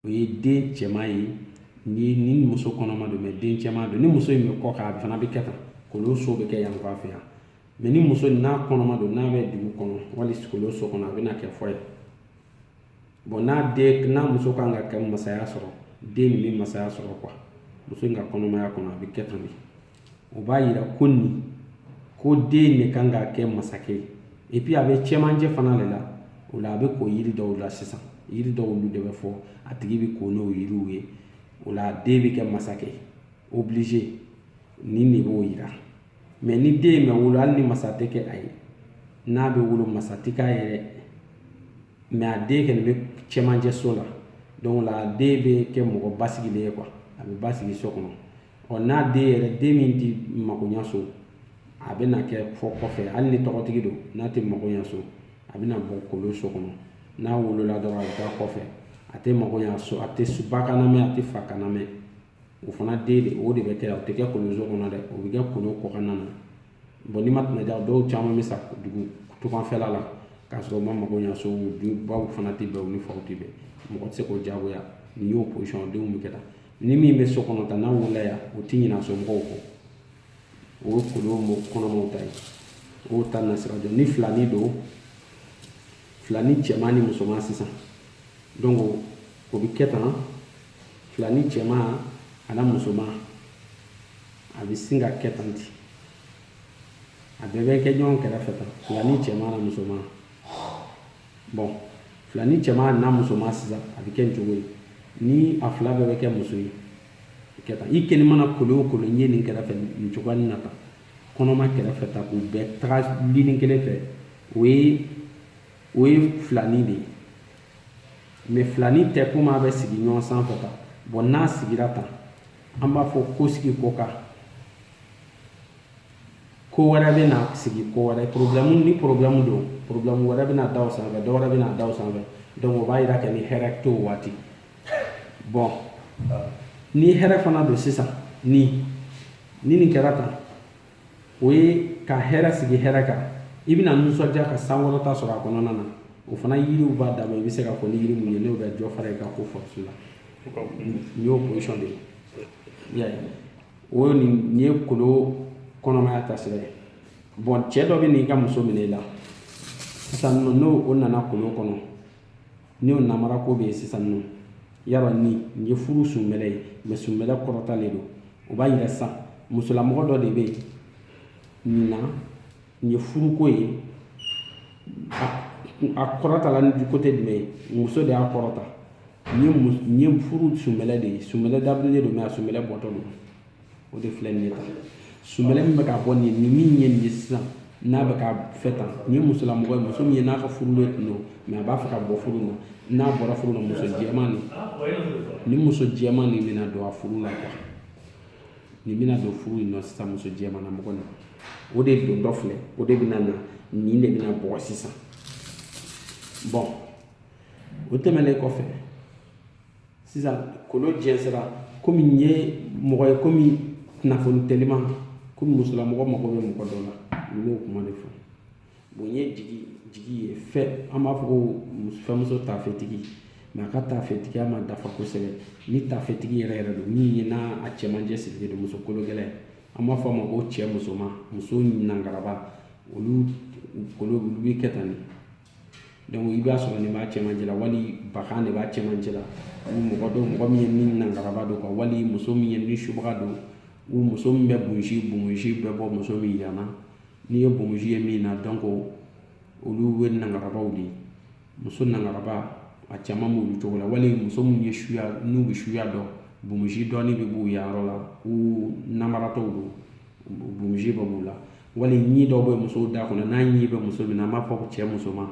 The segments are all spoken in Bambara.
o ye den cɛman ye ni ni muso kɔnɔma don mɛ den cɛman don ni muso in bɛ kɔ kan a fana bɛ kɛ tan kolo so bɛ kɛ yan fan fɛ yan mɛ ni muso n'a kɔnɔma don n'a bɛ dugu kɔnɔ wali kolo so kɔnɔ a bɛna kɛ fɔ ye bɔn n'a den n'a muso kan ka kɛ masaya sɔrɔ den min bɛ masaya sɔrɔ quoi muso in ka kɔnɔmaya kɔnɔ a bɛ kɛ tan de o b'a yira ko nin ko den de kan ka kɛ masakɛ ye et puis a bɛ cɛmancɛ fana de la o la a bɛ ko yiri dɔw la sisan yiri dɔw olu de bɛ fɔ a tigi bɛ ko n'o yiriw ye o la den bɛ kɛ masakɛ obligé nin de b'o yira mɛ ni den in ma wolo hali ni masa tɛ kɛ a ye n'a bɛ wolo masa tɛ k'a yɛrɛ mɛ a den kɛlen bɛ cɛmancɛ so la donc la den bɛ kɛ mɔgɔ basigilen ye quoi a bɛ basigi so kɔnɔ ɔ n'a den yɛrɛ den min tɛ makoɲa so a bɛna kɛ fɔ kɔfɛ hali ni tɔgɔtigi don n'a tɛ makoɲa so a bɛna bɔ kolo so kɔnɔ n'a wolola dɔrɔn a bɛ taa kɔfɛ a tɛ makoɲa so a tɛ ba kan lamɛn a tɛ fa kan lamɛn o fana den de o de bɛ kɛ o tɛ kɛ kolo so kɔnɔ dɛ o bɛ kɛ kolo kɔkanna na bɔn n'i ma tɛmɛ ja dɔw caman bɛ sa dugu tungafɛla la k'a sɔrɔ u ma makoɲa so baw fana tɛ bɛn u ni faw tɛ bɛn mɔgɔ tɛ se k'o jagoya nin y'o position denw bɛ kɛ tan ni min bɛ so kɔnɔ tan n'a wulila yan o tɛ ɲinɛ a somɔgɔw kɔ o ye kolo kɔnɔmaw ta ye o ta na sira don ni filani don filani cɛman ni musoman sisan donc o bɛ kɛ tan filani cɛman ani musoman a bɛ sin ka kɛ tan ten a bɛɛ bɛ kɛ ɲɔgɔn kɛrɛfɛ tan filani cɛman ani musoman bɔn filani cɛman n'a musoman sisan a bɛ kɛ nin cogo ye ni a fila bɛɛ bɛ kɛ muso ye kɛ tan i kɛnɛ mana kolo o kolo n ye nin kɛrɛfɛ nin cogoya nin na tan kɔnɔma kɛrɛfɛ tan k'u bɛɛ taga lini kelen fɛ o ye o ye filani de ye mɛ filani tɛ komi a bɛ sigi ɲɔgɔn sanfɛ tan bɔn n'a sigira tan an b'a fɔ ko sigi ko kan ko wɛrɛ bɛ na sigi ko wɛrɛ problème ni problème don problème wɛrɛ bɛna da o sanfɛ dɔ wɛrɛ bɛna da o sanfɛ donc o b'a yira kɛ ni hɛrɛ t'o waati bɔn ni hɛrɛ fana don sisan ni ni nin kɛra tan o ye ka hɛrɛ sigi hɛrɛ kan i bɛna nisɔndiya ka sankɔrɔta sɔrɔ a kɔnɔna na o fana yiriw b'a dama i bɛ se ka fɔ ni yiri mun ye n'o bɛ dɔ fara i ka ko force la nin y'o position de ye o ye nin ye kolo kɔnɔmaya taasira ye bɔn cɛ dɔ bɛ n'i ka muso minɛ i la sisan nɔ n'o o nana kolo kɔnɔ n'o namara ko bɛ yen sisan nɔ yala ni nin ye furu sunbɛlɛ ye mɛ sunbɛlɛ kɔrɔtalen don o b'a yira sisan musolamɔgɔ dɔ de bɛ yen nin na nin ye furuko ye a kɔrɔtala ni côté jumɛn ye muso de y'a kɔrɔta nin ye furu sunbɛlɛ de ye sunbɛlɛ dabirilen don mɛ a sunbɛlɛ bɔtɔ don o de filɛ nin ye tan sunbɛlɛ min bɛ ka bɔ nin min ye nin ye sisan n'a bɛ ka fɛ tan nin ye musolamɔgɔ ye muso min ye n'a ka furulen tun don mɛ a b'a fɛ ka bɔ furu la n'a bɔra furu la muso jɛman nin ni muso jɛman nin bɛna don a furu la nin bɛna don furu in na sisan muso jɛmana mɔgɔ na o de don dɔ filɛ o de bɛna na nin de bɛna bɔ sisan bɔn o tɛmɛnen kɔfɛ sisan kolo jɛnsɛra komi nin ye mɔgɔ ye komi kunnafoni teliman komi musolamɔgɔ mago bɛ mɔgɔ dɔ la n y'o kuma de fɔ Bon n ye jigi jigi ye fɛn an b'a fɔ ko fɛnmuso tafetigi mɛ a ka tafetigiya ma dafa kosɛbɛ ni tafetigi yɛrɛ yɛrɛ don min ye n'a a cɛmancɛ sirilen don muso kolo gɛlɛn an b'a fɔ a ma ko cɛ musoma muso nangaraba olu kolo olu bɛ kɛ tan de donc i b'a sɔrɔ nin b'a cɛmancɛ la wali bakan de b'a cɛmancɛ la ou mɔgɔ dɔ mɔgɔ min ye ni nangaraba don kuwa wali muso min ye ni subaga don ou muso min bɛ bunsi bunsi bɛ bɔ muso min yanna n'i ye bonbonsi ye min na donc olu ye nangarabaw de ye muso nangaraba a caman b'olu cogo la wali muso minnu ye suya n'u bɛ suya dɔn bonbonsi dɔɔni bɛ b'u yan yɔrɔ la ou namaratɔw don bonbonsi bɛ b'u la wali ɲi dɔw bɛ musow da kɔnɔ n'a ɲi bɛ muso min na an b'a fɔ ko cɛ musoman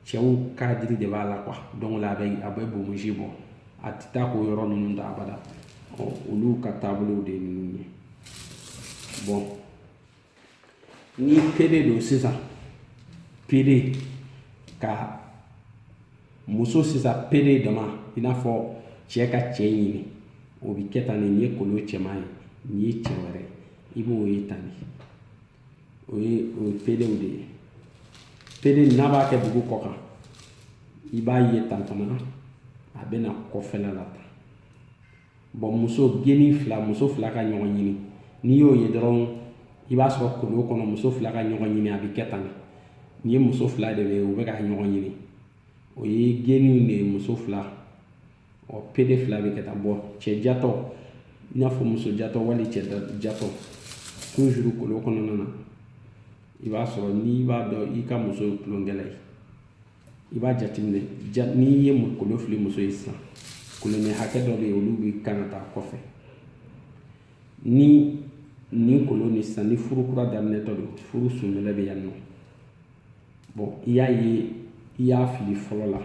cɛw ka jiri de b'a la kuwa donc a bɛ a bɛ bonbonsi bɔ a tɛ taa k'o yɔrɔ ninnu da abada ɔ olu ka taabolow de ye ninnu ye bɔn ni pede don sisan pede ka muso sisan pede dama i n'a fɔ cɛ ka cɛ ɲini o bi kɛ tan de nin ye kolo cɛman ye nin ye cɛ wɛrɛ i b'o ye tan de o ye o ye pedew de ye pede n'a b'a kɛ dugu kɔ kan i b'a ye tan fana a bɛ na kɔfɛla la tan bɔn muso geni fila muso fila ka ɲɔgɔn ɲini n'i y'o ye dɔrɔn i b'a sɔrɔ kolon kɔnɔ muso fila ka ɲɔgɔn ɲini a bɛ kɛ tan nin ye muso fila de ye u bɛ ka ɲɔgɔn ɲini o ye geni de ye muso fila ɔ pede fila bɛ kɛ tan bɔn cɛ jatɔ i n'a fɔ muso jatɔ wali cɛ jatɔ tuzuru kolon kɔnɔna na i b'a sɔrɔ n'i b'a dɔn i ka muso ye tulonkɛla ye i b'a jateminɛ ja n'i ye kolo fili muso ye sisan kolonnin hakɛ dɔ bɛ yen olu bɛ kan ka taa kɔfɛ ni nin kolon ni sisan ni furu kura daminɛtɔ don furu sunbɛlɛ bɛ yan nɔ bɔn i y'a ye i y'a fili fɔlɔ la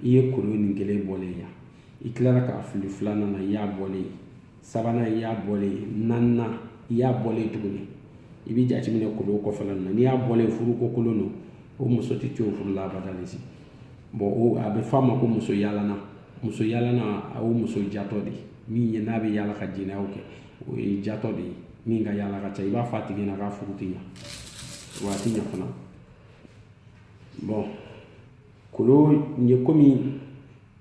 i ye kolon nin kelen bɔlen yan i tilara k'a fili filanan na i y'a bɔlen ye sabanan i y'a bɔlen naaninan i y'a bɔlen tuguni i bɛ jateminɛ kolo kɔfɛla na n'i y'a bɔlen furu ko kolon don o muso tɛ to furu la abada de si bɔn o a bɛ fɔ a ma ko muso yaalana muso yaalana a y'o muso jatɔ de min ye n'a bɛ yaala ka jɛnɛyaw kɛ o ye jatɔ de ye min ka yaala ka ca i b'a fɔ a tigi ɲɛna k'a furu tɛ ɲa wa a tɛ ɲa fana bɔn Kolon nin ye komi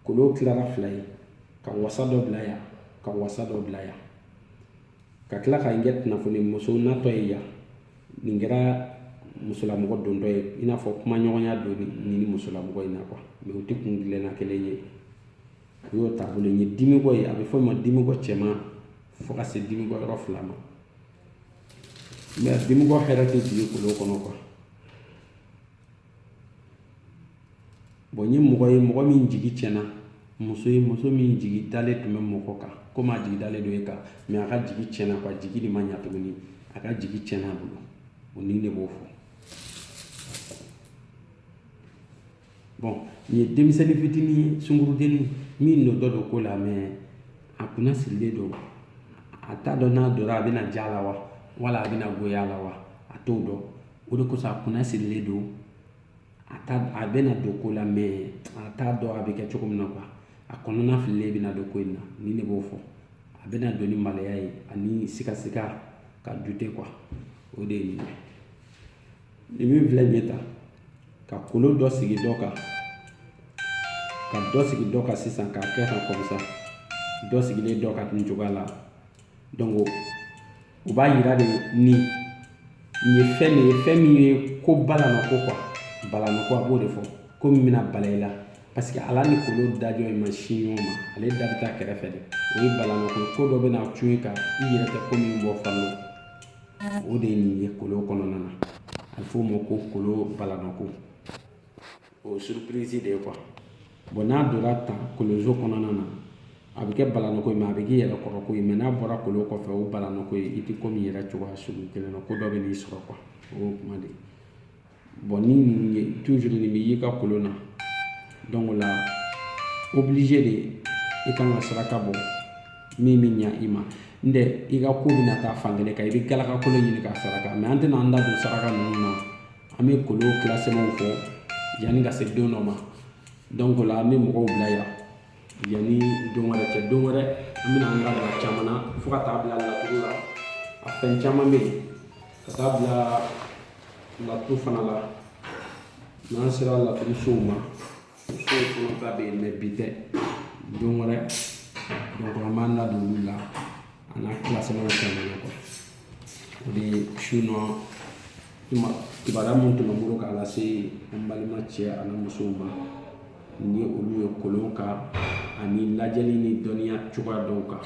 kolon tilara fila ye ka wasa dɔ bila yan ka wasa dɔ bila yan ka tila ka kɛ kunnafoni muso natɔ ye yan nin kɛra musolamɔgɔ dontɔ ye i n'a fɔ kumaɲɔgɔnya don nin ni musolamɔgɔ in na kuwa mɛ u tɛ kun dilanna kelen ye u y'o taabolo ye dimikɔ ye a bɛ fɔ o ma dimikɔ cɛman fo ka se dimikɔ yɔrɔ fila ma mɛ dimikɔ hɛrɛ tɛ jigin kolon kɔnɔ kuwa nin ye mɔgɔ ye mɔgɔ min jigi cɛnna muso ye muso min jigi dalen tun bɛ mɔgɔ kan komi a jigi dalen don e kan a ka jigi cɛnna a ka jigi de ma ɲɛ tuguni a ka jigi cɛnna a bolo o nin de b'o fɔ nin ye denmisɛnnin fitinin ye sunkurudennin min dontɔ don ko la mɛ a kunnasirilen don a t'a dɔn n'a donna a bɛna diya a la wa wala a bɛna goya a la wa a t'o dɔn o de kosɔn a kunnasirilen don a bɛna don ko la mɛ a t'a dɔn a bɛ kɛ cogo min na kuwa a kɔnɔnafililen bɛna don ko in na nin de b'o fɔ a bɛna don ni maloya ye ani sikasika ka dute kuwa o de ye nin ye nin min filɛ nin ye tan ka kolo dɔ sigi dɔ kan ka dɔ sigi dɔ kan sisan k'a kɛ tan kɔmisa dɔ sigilen dɔ kan nin cogoya la Donc o b'a yira de nin ye fɛn de ye fɛn min ye ko balanako kuwa balanako a b'o de fɔ ko min bɛna bala i la parce que a da ni kolon dajɔ ye ma sin ɲɔgɔn ma ale da bɛ taa kɛrɛfɛ de o ye balanako ko dɔ bɛna cun i kan i yɛrɛ tɛ ko min bɔ falo o de ye nin ye kolon kɔnɔna na a bɛ f'o ma ko kolon balanako o suruprisi de ye kuwa bɔn n'a donna tan kolonso kɔnɔna na a bɛ kɛ balanako ye mɛ a bɛ k'i yɛrɛ kɔrɔ ko ye mɛ n'a bɔra kolon kɔfɛ o balanako ye i tɛ ko min yɛrɛ cogoya sugu kelen na ko dɔ bɛn'i sɔrɔ kuwa o y'o kuma de ye bɔn ni nin ye tuzuru nin bɛ y'i ka kolon na donc o la oblige de i kan ka saraka bɔ min bɛ ɲa i ma n'o tɛ i ka ko bɛna taa fan kelen kan i bɛ galakakolo ɲini ka saraka mɛ an tɛna an da don saraka ninnu na an bɛ kolon classement fɔ yanni ka se don dɔ ma donc la an bɛ mɔgɔw bila yan yanni don wɛrɛ cɛ don wɛrɛ an bɛna an da don a caman na fo ka taa bila laturu la a fɛn caman bɛ yen ka taa bila laturu fana la n'an sera laturu sow ma sow fana ta bɛ yen mais bi tɛ don wɛrɛ an b'an da don olu la a n'a classement caman na quoi o de ye sinon kibaruya minnu tun bɛ n bolo k'a lase an balima cɛ ani musow ma ni olu ye kolon kan ani lajɛli ni dɔnniya cogoya dɔw kan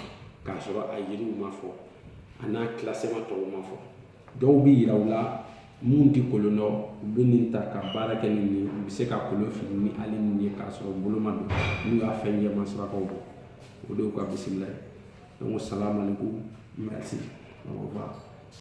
k'a sɔrɔ a yiriw ma fɔ a n'a classement tɔw ma fɔ dɔw bɛ yira u la minnu tɛ kolon dɔn u bɛ nin ta ka baara kɛ nin ye u bɛ se ka kolon fili ni hali nin ye k'a sɔrɔ bolo ma don n'u y'a fɛn jɛman sarakaw bɔ o de y'u ka bisimila ye donc salamu aleykum merci au revoir